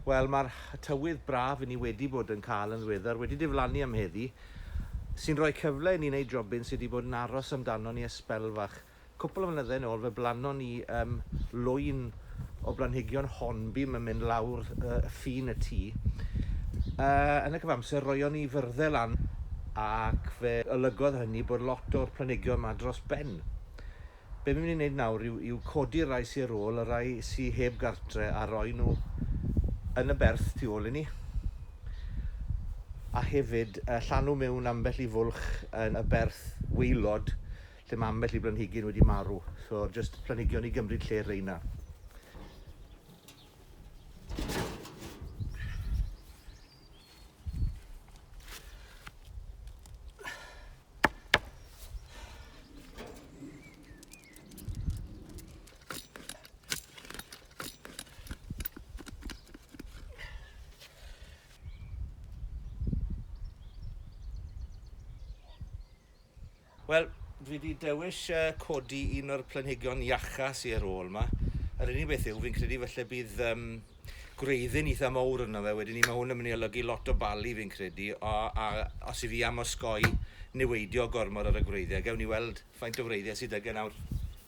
Wel, mae'r tywydd braf i ni wedi bod yn cael yn ddiweddar wedi diflannu am heddi, sy'n rhoi cyfle i ni wneud jobyn sydd wedi bod yn aros amdano ni ers sbel fach. Cwpl o flynyddau nôl, fe blanon ni um, lwyn o blanhigion hornbeam yn mynd lawr y ffin y tŷ. Yn y cyfamser, roion ni fyrddau lan ac fe olygodd hynny bod lot o'r planigion yma dros ben. Be mi'n mynd i wneud nawr yw, yw codi rai sy'n ar ôl, y rai sy'n heb gartre a roi nhw yn y berth tu ôl i ni. A hefyd llanw mewn ambell i fwlch yn y berth weilod lle mae ambell i blanhigyn wedi marw, so jyst planhigion i gymryd lle reina. Wel, dwi 'di dewis yy codi un o'r planhigion iacca sy ar ôl 'ma. Yr unig beth yw fi'n credu falle bydd yym gwreiddyn itha mowr arno fe wedyn 'ny ma' hwn yn myn' i olygu lot o bali fi'n credu o a os 'yf fi am osgoi niweidio gormod ar y gwreiddie gewn ni weld faint o wreiddie sy 'dy gen nawr.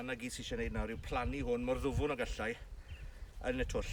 A 'na gyd sy isie neud nawr yw plannu hwn mor ddwfwn ag allai yn y twll.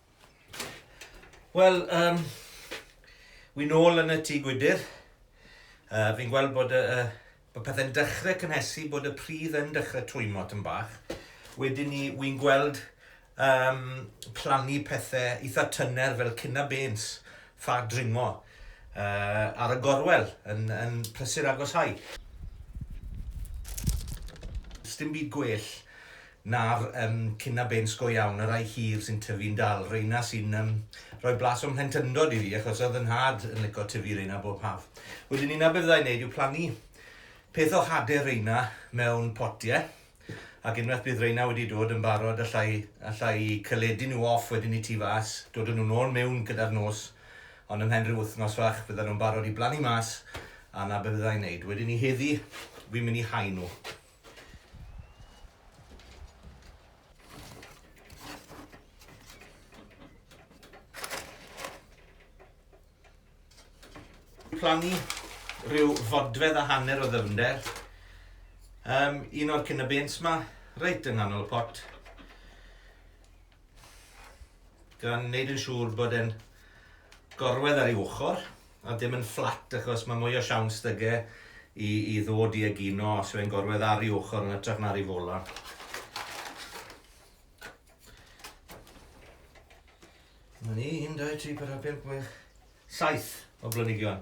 Wel, um, wi nôl yn y tŷ gwydyr. Uh, fi'n gweld bod, uh, bod pethau'n dechrau cynhesu, bod y pridd yn dechrau twymo tyn bach. Wedyn ni, wi'n gweld um, plannu pethau eitha tyner fel cynna bens, ffa dringo, uh, ar y gorwel yn, yn prysur agosau. Sdim byd gwell Na'r yym cina bêns go iawn, y rai hir sy'n tyfu'n dal, reina sy'n yym rhoi blas o'm mhlentyndod i fi achos oedd 'y nhad yn lico tyfu reina bob haf. Wedyn 'ny 'na be fydda i'n neud yw plannu peth o hade reina mewn potie ac unwaith bydd reina wedi dod yn barod alla i alla i celedu nhw off wedyn 'ny tu fas, dod â nhw nôl mewn gyda'r nos ond ymhen rhyw wythnos fach byddan nhw'n barod i blannu mas a 'na be fydda i'n neud. Wedyn 'ny heddi fi'n mynd i hau nhw. plannu rhyw fodfedd a hanner o ddyfnder. Um, un o'r cyn y bens ma, reit yng nghanol y pot. Gan wneud yn siŵr bod e'n gorwedd ar ei ochr a dim yn fflat achos mae mwy o siawns 'da ge i i ddod i egino os yw e'n gorwedd ar ei ochr yn hytrach na ar ei fola. Mae ni 1, 2, 3, 4, 5, 6, 7 o blynigion.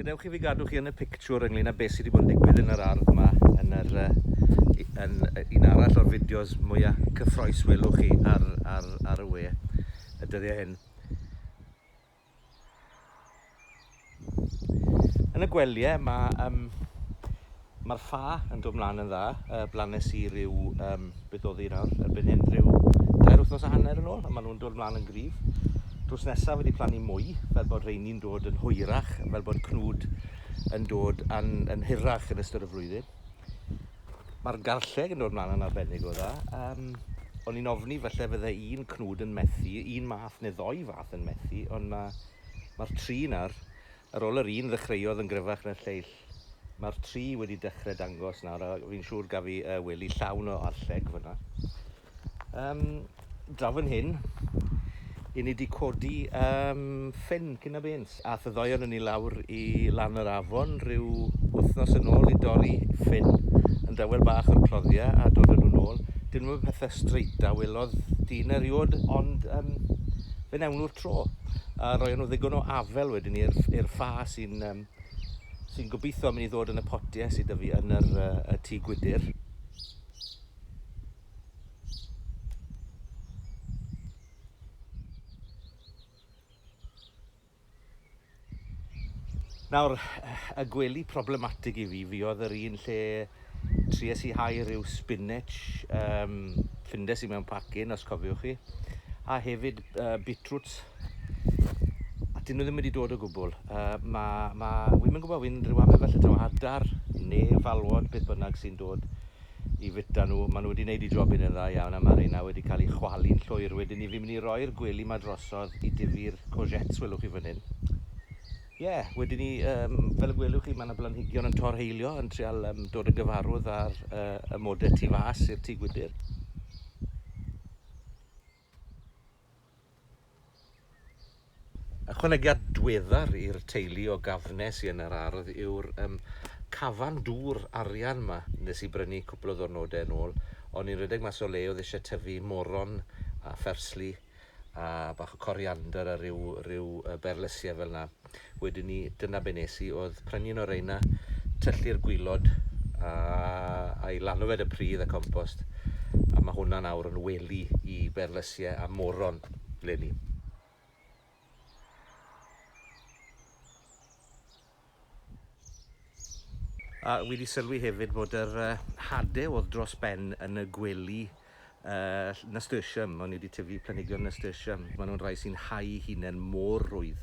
Gadewch i fi gadw chi yn y pictiwr ynglyn â beth sydd wedi bod yn digwydd yn yr ardd yma yn yr yn un arall o'r fideos mwyaf cyffroes welwch chi ar, ar, ar y we y dyddiau hyn. Yn y gwelyau mae um, Mae'r ffa yn dod mlaen yn dda. Yy, blanes i ryw, um, beth oedd hi nawr, erbyn hyn, rhyw dair wythnos a hanner yn ôl, a maen nhw'n dod mlaen yn gryf. Drws nesaf wedi plannu mwy, fel bod rheini'n dod yn hwyrach, fel bod cnwd yn dod yn, yn hirach yn ystod y flwyddyn. Mae'r garlleg yn dod mlaen yn arbennig o dda. Um, o'n i'n ofni falle fydde un cnwd yn methu, un math neu ddoi fath yn methu, ond mae, mae'r tri nawr Ar ôl yr un ddechreuodd yn gryfach na'r lleill, mae'r tri wedi dechrau dangos nawr, a fi'n siŵr gaf i uh, wely llawn o arlleg fyna. Um, draw fan hyn, i ni wedi codi um, ffyn cyn a bens, a thyddoion yn ni lawr i lan yr afon rhyw wythnos yn ôl i dorri ffyn yn dawel bach o'r cloddiau a dod yn nhw'n ôl. Dyn nhw'n pethau streit a welodd dyn eriod, ond um, fe wnawn nhw'r tro. A roion nhw ddigon o afel wedyn i'r i'r ffa sy'n um, sy'n gobeithio mynd i ddod yn y potiau sydd â fi yn yr uh, y tŷ gwydr. Nawr, y gwely problematig i fi, fi oedd yr un lle tries i hau rhyw spinach, um, ffindes i mewn pacyn, os cofiwch chi, a hefyd uh, beetroots, a dyn nhw ddim wedi dod o gwbl. Uh, mae, ma, fi'n mynd gwybod, fi'n rhyw amau felly taw adar neu falwod, beth bynnag sy'n dod i fwyta nhw. Maen nhw wedi wneud eu jobyn yn dda iawn a mae'r rheina wedi cael eu chwalu'n llwyr. Wedyn ni fi'n mynd i roi'r gwely 'ma drosodd i dyfu'r courgettes welwch chi fan hyn. Ie, wedyn ni, um, fel y gwelwch chi, mae yna blanhigion yn torheilio, yn trial um, dod yn gyfarwydd â'r uh, amodau tu fas i'r tŷ gwydr. Ychwanegiad dweddar i'r teulu o gafne sy yn yr ardd yw'r yym cafan dŵr arian 'ma nes i brynu cwpl o ddwrnode yn ôl o'n i'n redeg mas o le oedd isie tyfu moron a phersli a bach o coriander a ryw ryw yy berlysie fel 'na. Wedyn ni, dyna be nes i, oedd prynu un o reina, tyllu'r gwylod a, a'i lanw fe y pridd a compost, a mae hwnna'n awr yn wely i berlysiau a moron leni. A wedi sylwi hefyd bod yr hade oedd dros ben yn y gwely Yy, nasturtium, o'n i wedi tyfu planhigion nasturtium, maen nhw'n rhai sy'n hau'u hunain mor rwydd,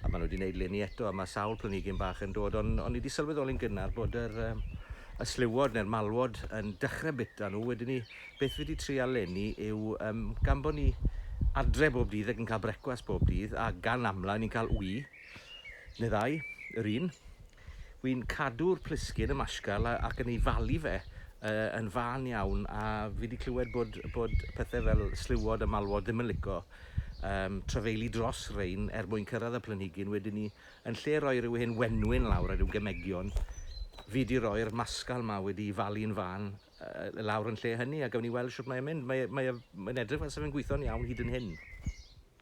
a maen nhw wedi gwneud leni eto, a mae sawl planhigyn bach yn dod, ond o'n i wedi sylweddoli'n gynnar bod yr, yy, y sliwod neu'r malwod yn dechrau bita nhw, wedyn ni, beth fi wedi trial leni yw, um, gan bod ni adre bob dydd ac yn cael brecwast bob dydd, a gan amla ni'n cael wy, neu ddau, yr un, Wi'n cadw'r plisgyn, y mashcal, ac yn ei falu fe yn fân iawn, a fi wedi clywed bod, bod pethau fel sliwod a malwod ddim yn lico um, trafeilu dros rein er mwyn cyrraedd y planhigyn. Wedyn ni, yn lle roi rhyw hen wenwyn lawr a rhyw gemegion, fi wedi rhoi'r mascal ma wedi falu'n fan uh, lawr yn lle hynny, a gawn ni weld sut mae'n mynd. Mae'n mae, e, mae edrych fel sef yn gweithio'n iawn hyd yn hyn.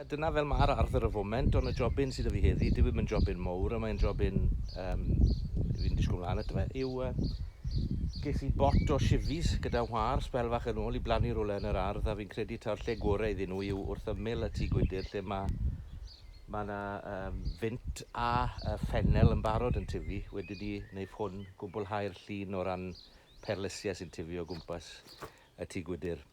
A dyna fel mae'r ardd ar y foment, ond y jobyn sydd 'da fi heddi, dyw e ddim yn jobyn mowr, a mae'n jobyn um, fi'n disgwyl mlaen ato fe, yw uh, ges i bot o shifis gyda whar sbel fach yn ôl i blannu rhywle yn yr ardd, a fi'n credu ta'r lle gorau iddyn nhw yw wrth ymyl y tŷ gwydr lle mae mae yna um, fynt a uh, ffenel yn barod yn tyfu. Wedyn ni wneud hwn gwblhau'r llun o ran perlysiau sy'n tyfu o gwmpas y tŷ gwydr.